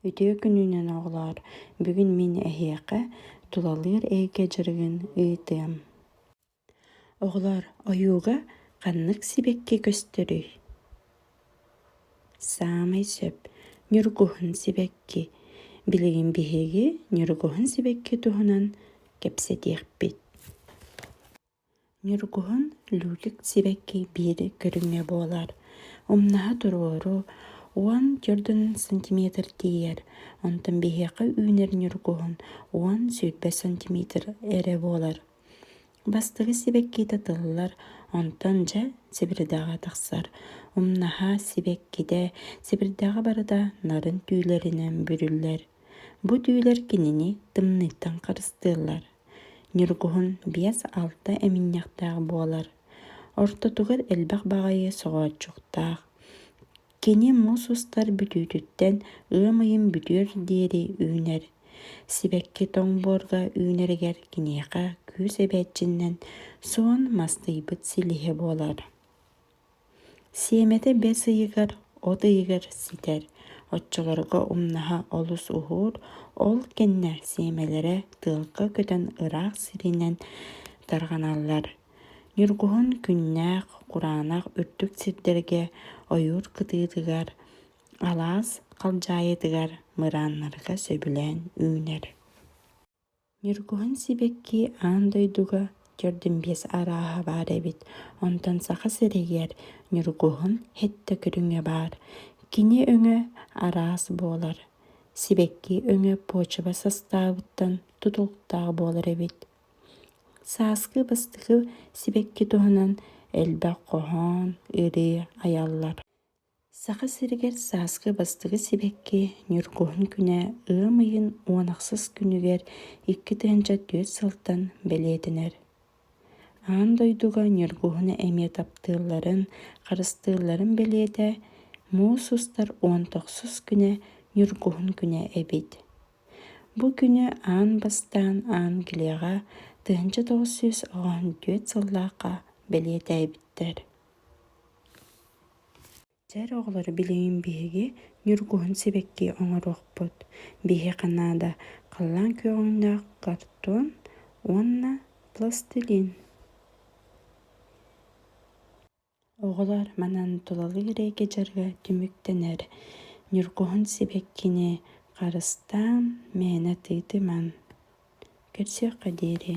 Үтүө күнүнэн оҕолоор, бүгүн мин эһиэхэ тулалыыр эйгэ дьарыгын ыытыам. Оҕолоор, ойууга ханнык сибэкки көстөрүй? Саамай сөп ньургуһун сибэкки. Билигин биһиги ньургуһун сибэкки туһунан кэпсэтиэхпит. Ньургуһун Люлик сибэкки биир көрүҥэ буолар. Умнаһа туруору уон төрдүн сантиметр тиийэр, онтон биһиэхэ үүнэр ньургуһун уон сүүрбэ сантиметр эрэ буолар. Бастакы сибэккитэ тыллар, онтон дьэ сибирдэҕэ тахсар. Умнаһа сибэккитэ сибирдэҕэ барыта нарын түүлэринэн бүрүллэр. Бу түүлэр кинини тымныыттан харыстыыллар. Ньургуһун биэс-алта эминньэхтээх буолар. Ортотугар элбэх баҕайы соҕооччуктаах. Кини мус устар бүтүүтүттэн ыам ыйын бүтүөр диэри үүнэр. Сибэкки тоҥбуорга үүнэригэр киниэхэ күүс эбээччинэн суон мастыйбыт силиһэ буолар Сиэмэтэ бэс ыйыгар от ыйыгар ситэр, оччолорго умнаһа олус уһуур, ол кэннэ сиэмэлэрэ тыалга көтөн ыраах сиринэн тарҕаналлар. Ньургуһун күннээх, кураанах үрдүк сирдэргэ ойуур кытыытыгар, алаас халдьаайытыгар мырааннарга сөбүлээн үүнэр. Ньургуһун сибэкки аан дойдуга төрдүмбиэс арааһа баар эбит, онтон Саха сиригэр Ньургуһун сэттэ көрүҥэ баар. Кини өҥө араас буолар. Сибэкки өҥө почва састаабыттан тутулуктаах буолар эбит. Сааскы бастакы сибэкки туһунан элбэх хоһоон, ырыы айаллар Саха сиригэр сааскы бастакы сибэкки Ньургуһун күнэ ыам ыйын уон ахсыс күнүгэр икки тыһыынча түөрт сылтан бэлиэтэнэр. Аан дойдуга Ньургуһуну эмиэ таптыылларын, харыстыылларын бэлиэтэ муус устар уон тохсус күнэ Ньургуһун күнэ эбит. Бу күнү аан бастаан Англияҕа тыһыынча тоҕус сүүс оҕоһун түөрт сыллаахха бэлиэтээбиттэр Дьэр оҕолоро билигин биһиги ньургуһун сибэкки оҥоруохпут. Биһиэхэ наада халлаан күөҕүннээх картон уонна пластилин. Оҕолор манан тулалыыр эйгэ дьарыга түмүктэнэр. Ньургуһун сибэккини харыстаан, мээнэ тыытымаҥ. Көрсүөххэ диэри